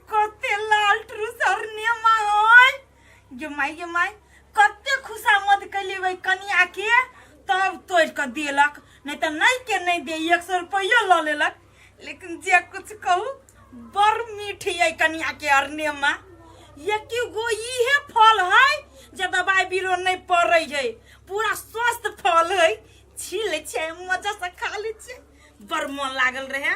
कते लाल ट्रू सरने माय गे माय गे माय कते खुशामद कैली वही कनिया के तब तोड़ के देलक नहीं तो नहीं के नहीं दे एक सौ रुपया ल लेलक लेकिन जे कुछ कहू बड़ मीठी है कनिया के अरने माँ ये कि गो इहे फल है जे दवाई बीरो नहीं पड़े है पूरा स्वस्थ फल है छील छै मजा से खा ले छै बड़ मन लागल रहे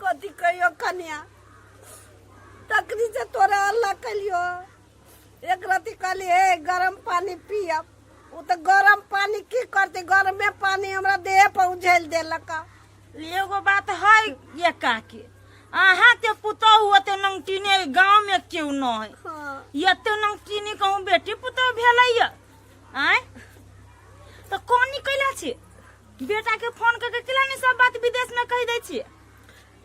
कथी कहियो कन्या तकरी से तोरा अल्लाह कलियो एक रति कहली हे गरम पानी पियब उ तो गरम पानी की करते गरमे पानी हमरा देह पर उझल देलक एगो बात है ये काके अहाँ के पुतहु ओते नमकीने गाँव में क्यों न है हाँ। एते नमकीनी कहूँ बेटी पुतहु भेलैया आय तो कौन निकला छी बेटा के फोन करके किला नहीं सब बात विदेश में कह दे छी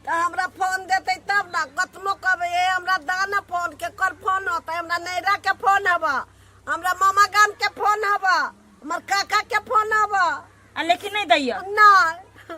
तऽ हमरा फोन देतै तब ने कतनो कहबै ए हमरा दाना फोन के कर फोन होतै हमरा नैरा के फोन हब हमरा मामा गाम के फोन हब हमर काका के फोन हब आ लेकिन नहीं दैया नहि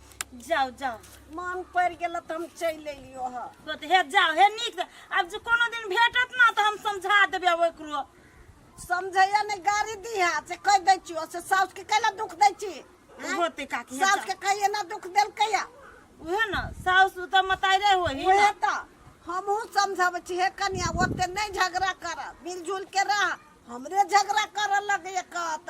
जाओ जाओ मन पड़ गेल तो हम चल अलियो ह तो ते हे जाओ हे नीक से। आब जे कोनो दिन भेटत ना तो हम समझा देबे अब एकरो समझैया ने गाड़ी दिहा से कह दै छियो से साउस के कैला दुख दै छी हैं? होते काकी हे साउस के जाओ। कहिए ना दुख देल कैया उहे ना साउस तो मतारे होही उहे ना। त हमहू समझाबै छी हे कनिया ओते नहीं झगड़ा कर मिलजुल के रह हमरे झगड़ा कर लगे कहत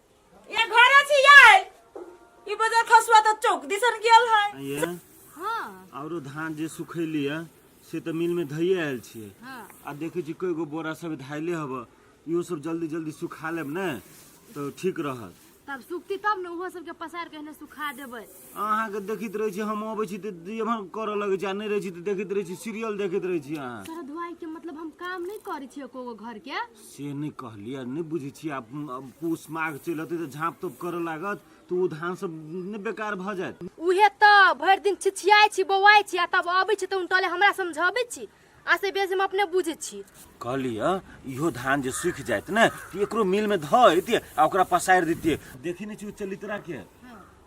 ये घर अछि याय ई बजर खसुआ त चौक दिसन गेल है ये हाँ औरो धान जे सुखैली है से तऽ मिल में धैये आयल छियै हाँ आ देखै छी कई गो बोरा सब धाइले हब इहो सब जल्दी जल्दी सुखा लेब ने तऽ ठीक रहत तब सुखती तब ने ओहो सबके पसार के एहने सुखा देबै अहाँके देखैत रहै छी हम अबै छी तऽ जेमन करऽ लगै छी आ नहि रहै छी तऽ देखैत रहै छी सीरियल देखैत रहै छी अहाँ तोरा धुआई के मतलब हम काम नहीं करे छियै एको गो घर के से नहि कहलियै नहि बुझै छियै आब आब पूस माघ चलि अतै तऽ झाँप तोप करऽ लागत तऽ ओ धान सब नहि बेकार भऽ जायत उहे तऽ भरि दिन छिछियाइ छी बौआइ छी आ तब अबै छी तऽ उनटले हमरा समझबै छी आ से बेसी हम अपने बुझै छी कहलियै इहो धान जे सूखि जायत ने तऽ एकरो मिल में धऽ अयतियै आ ओकरा पसारि दितियै देखी नहि छी ओ चलितरा के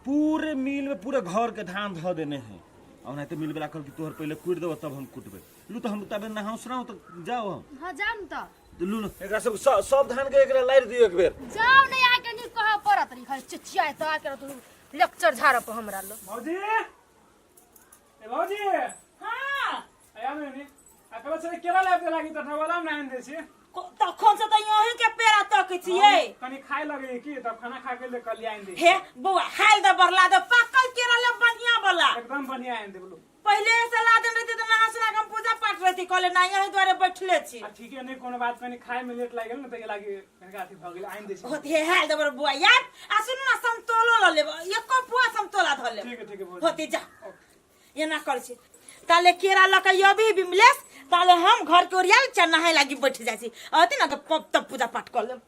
पूरे मिल में पूरे घर के धान धऽ देने है ओनाहिते मिल बला कहल कि तोहर पहिले कुटि देबऽ तब हम कुटबै लू तो हम तबे नहाऊ सुनाऊ तो जाओ हम हाँ जाओ न तो तो लू ना एकरा सब सब- सब धान के एकरा लाइट दियो एक बेर जाओ नहीं आके नहीं कह पड़त रही खाली चिचिया तो आके तू लेक्चर झाड़ पर हमरा लो भाजी ए भाजी हाँ आया नहीं नहीं अकल से केरा लाइफ दे लागी तथा वाला नहीं दे छी को- तखन से तऽ यहीं के पेड़ा तक छियै कनी खाए लगे की तब खाना खा के ले कल आइन दे हे बौआ हाल दे बरला दे पाकल केरा ले बढ़िया बला एकदम बढ़िया आइन दे बोलो पहिले ये सलाह देने रहती तो नहा सुना के हम पूजा पाठ रहती कहले ना यही द्वारे बैठले छी आ ठीके नहि कोनो बात कनी खाए में लेट लागि गेल ने ताहि लागि कनिका अथी भऽ गेल आनि दै छी होत हे हाल दबर बुआ यार आ सुन ना समतोलो ल लेब एको बुआ समतोला धर लेब ठीक है ठीक है बोल होती जा एना कर छी ताले केरा लक यदि बिमलेश ताले हम घर के ओरिया चढ़ नहाए लागी बैठ जाइ छी अति ना तो पप तब पूजा पाठ कर लेब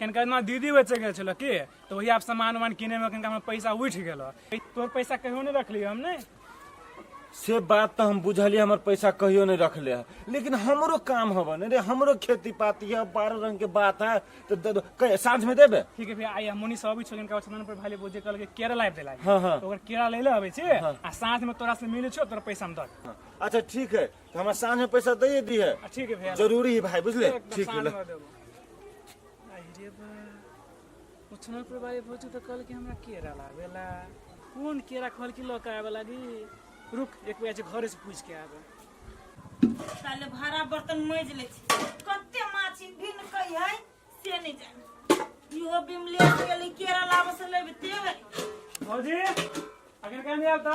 कनिका ना दीदी बेचे गेल छलो की तो वही आप सामान वामान किने में कनिका हमर पैसा उठ गेलो तोर पैसा कहियो नहीं रखली हम ने से बात तो हम बुझलिए हमर पैसा कहियो नहीं रखले है लेकिन हमरो काम हब ने रे हमरो खेती पाती है बारह रंग के बात है तो दे- कै- साँझ में देबे ठीक है भैया आई हमनी सब भी छोगिन का सामान पर भाले बोझे कल के केरा लाइव देला हाँ, हाँ। तो ओकर केरा ले ले आबे छी आ साथ में तोरा से मिले छो तोरा पैसा हम दर अच्छा ठीक है तो हमरा साँझ में पैसा दे दी है आ, ठीक है भैया जरूरी है भाई बुझले एकदम ठीक है साँझ ले। में देबो। अरे बा उठना पर बारे भोजू तो कल के हमरा केरा लावेला कौन केरा खोल के लौक आवे लागी रुक एक बेर जे घरे से पूछ के आवे ताले भारा बर्तन मैज ले छी कते माछी भिन कई है से नहीं जाने इहो बिमले के लिए केरा लाबस लेबे ते भौजी अगर कहने आब तो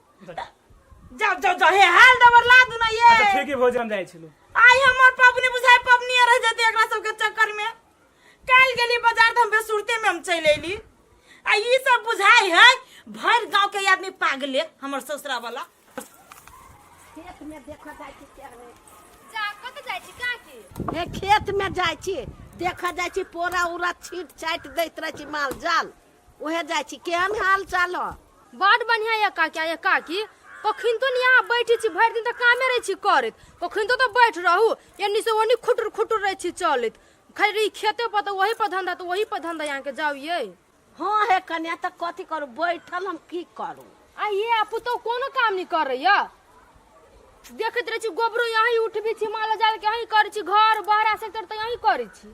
जाओ जाओ जाओ हे हाल दबर ला दू ना ये अच्छा ठीक है भोजन जाए छलो आई हमर पबनी बुझाय पबनी रह जते एकरा सब के चक्कर में काल गेली बाजार हम बेसुरते में हम चल एली आ ई सब बुझाय है भर गांव के आदमी पागले हमर ससुरा वाला खेत में देखो जाय छी के रे जा कत जाइ छी का की हे खेत में जाय छी देखो जाय छी पोरा उरा छीट छाट दैत रह छी माल जाल ओहे जाइ छी केहन हाल चाल हो बड बढ़िया ये काकी ये काकी कखन तो ने यहाँ बैठी छी भरि दिन तऽ कामे रहै छी करैत कखन तो तऽ बैठ रहू एन्नी से ओन्नी खुटुर खुटुर रहै छी चलैत खाली रही खेते पर तऽ ओही पर धंधा तऽ ओही पर धंधा यहाँ के जाऊ ये हाँ हे कन्या तऽ कथी करू बैठल हम की करू आ ये आ पुतौ कोनो काम नहीं कर रही है देखैत रहै छी गोबरो यहीं उठबी छी माल जाल के यहीं करै छी घर बहरा सेक्टर तऽ यहीं करै छी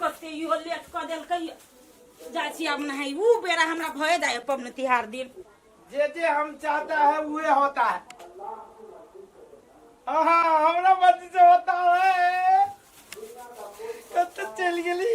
कते इहो लेट कऽ देलकै जाइ छी आब नहाइ ऊ बेरा हमरा भए जाय पबनी तिहार दिन जे जे हम चाहता है उहे होता है आहा हमरा मर्जी से होता है कत चल गेली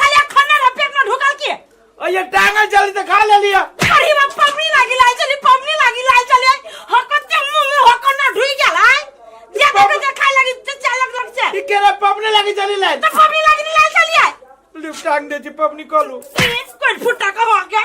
खाली खन्ना रे पेट में ढुकल के अये टांगल चली तो खा ले लिया अरे बा पबनी लागी लाल चली पबनी लागी लाल चली हकत के मुंह में हकत ना ढुई गेल है जे देखे जे खाए लगी ते चालक लग से ठीक करे पपने लगी चली लाइन तो पबनी लागी लाल चली है लिफ्ट टांग दे जी पपनी कॉलू कोई फुटा का हो गया